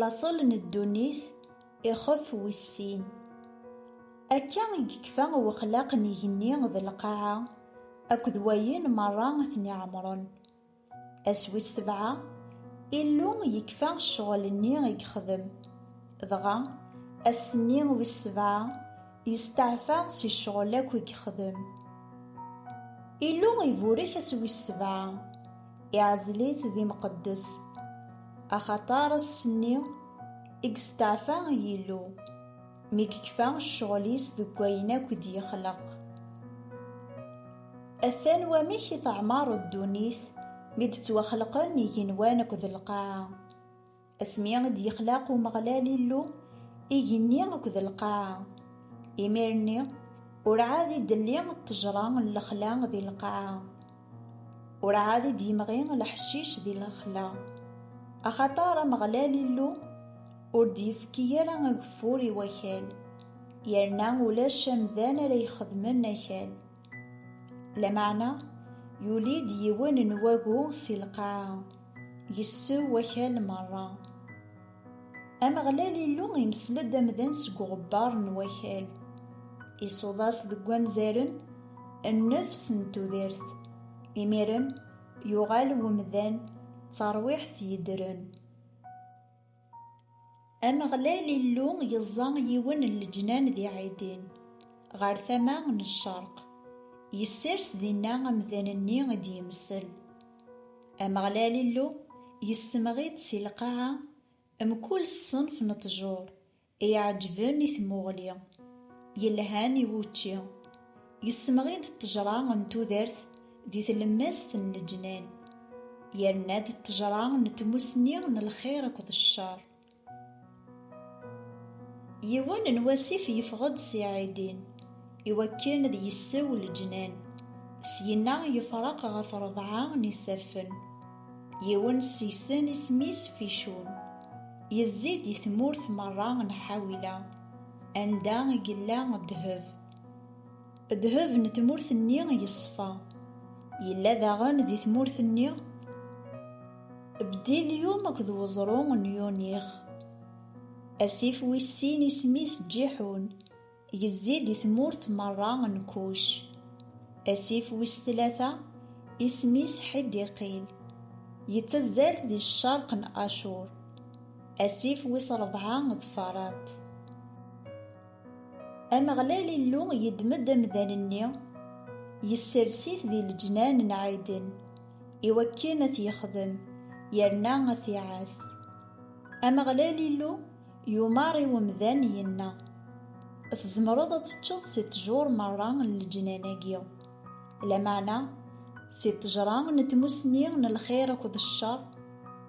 Laṣel n ddunit ixef wis sin. Akka i yekfa wexlaq n igenni d lqaɛa akked wayen merra i ten-iɛemren. Ass wis sebɛa, Illu yekfa ccɣel-nni i yexdem, dɣa, ass-nni wis sebɛa, yesteɛfa si ccɣel akk i yexdem. Illu iburek ass wis sebɛa. Iɛzel-it d imqeddes. Axaṭer ass-nni i yesteɛfa Yillu, mi yekfa ccɣel-is deg wayen akk i d-yexleq. Atan wamek i teɛmer ddunit mi d-ttwaxelqen igenwan akked lqaɛa. Asmi i d-yexlaq Umeɣlal Illu igenni akked lqaɛa, imir-nni ur ɛad i d-telli ṭṭejra n lexla di lqaɛa, ur ɛad i d-yemɣi leḥcic di lexla, axaṭer Ameɣlal Illu ur d-yefki ara ageffur i wakal, yerna ulac amdan ara ixedmen akal. Lameɛna, yuli-d yiwen n wagu si lqaɛa, yessew wakal merra. Ameɣlal Illu imesla-d amdan seg uɣebbar n wakal, isuḍ-as deg wanzaren nnefs n tudert, imiren yuɣal umdan d tarwiḥt yeddren. Ameɣlal Illu yeẓẓa yiwen n leǧnan di Ɛidin, ɣer tama n ccerq, yessers dinna amdan-nni i d-yemsel. Ameɣlal Illu yessemɣi-d si lqaɛa mkul ṣṣenf n ṭṭjur Iɛeǧben i tmuɣli, yelhan i wučči, yessemɣi-d ṭṭejra n tudert di tlemmast n leǧnan, yerna-d ṭṭejra n tmussni n lxir akked ccer. Yiwen n wasif yeffeɣ-d si Ɛidin i wakken ad yessew leǧnan, syinna yefreq ɣef rebɛa n isaffen. Yiwen sisen isem-is Ficun. Yezzi-d i tmurt merra n Ḥawila, anda i yella ddheb. Ddheb n tmurt-nni yeṣfa. Yella daɣen di tmurt-nni Bdilyum akked weẓru n Yunix. Asif wis sin isem-is Ǧiḥun, Yezzi di tmurt merra n Kuc. Asif wis tlata, isem-is Ḥidiqil, yettazzal di ccerq n Acur. Asif wis ṛebɛa d Farat. Ameɣlal Illu yeddem-d amdan-nni, yessers-it di leǧnan n Ɛiden, i wakken ad t-yexdem yerna ad t-iɛass. Ameɣlal Illu. Yumar i umdan yenna, Tzemreḍ ad teččeḍ si ṭṭjur merra n leǧnan-agi. Lameɛna, si ṭṭejra n tmussni n lxir akked ccer,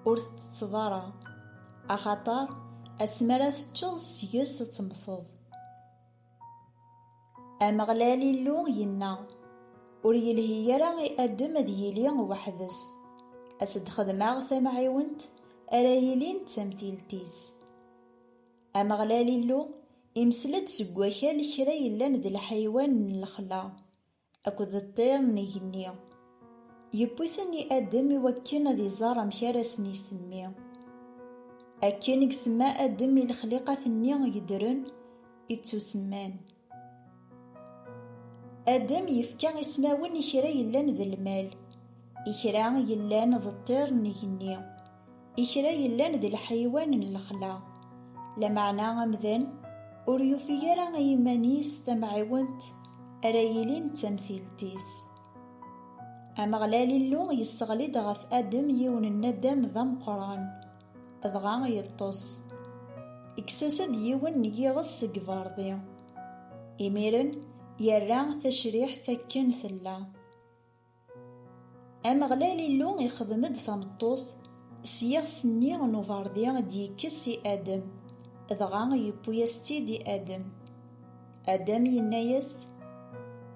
ur tettetteḍ ara, axaṭer asmi ara teččeḍ seg-s ad temmteḍ. Ameɣlal Illu yenna, Ur yelhi ara i Adem ad yili weḥd-s. A s-d-xedmeɣ tamɛiwent ara yilin d tamtilt-is. Ameɣlal Illu imesla-d seg wakal kra yellan d lḥaywan n lexla. Akked ṭṭir n igenni. Yewwi-ten i Adem i wakken ad iẓer amek ara asen-isemmi. Akken i isemma Adem i lexliqat-nni yeddren i ttusemman. Adem yefka ismawen i kra yellan d lmal, i kra yellan d ṭṭir n igenni. I kra yellan d leḥywan n lexla, lameɛna amdan ur yufig ara i yiman-is tamɛiwent ara yilin d tamtilt-is. Ameɣlal Illu yesseɣli-d ɣef Adem yiwen n nadam d ameqqran, dɣa yeṭṭes. Ikkes-as-d yiwen n yiɣes seg iberḍi. Imiren yerra tacriḥt akken tella. Ameɣlal Illu ixdem-d tameṭṭut s yiɣes-nni n uberḍi i d-yekkes i Adem, dɣa yewwi-as-tt-id i Adem. Adem yenna-yas,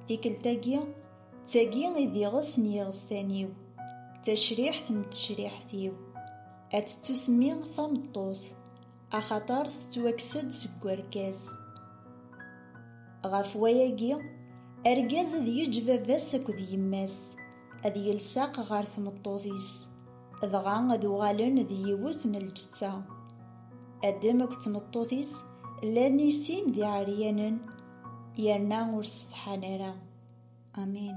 Tikkelt-agi, d tagi i d iɣes n yiɣessan-iw, d tacriḥt n tecriḥt-iw, ad tettusemmi tameṭṭut. axaṭer tettwakkes-d seg werkas. Ɣef wayagi, argaz ad yeǧǧ baba-s akked yemma-s, ad yelseq ɣer tmeṭṭut-is, dɣa ad uɣalen d yiwet n lǧetta. Adem akked tmeṭṭut-is llan i sin d iɛeryanen, yerna ur ssetḥan ara. Amin.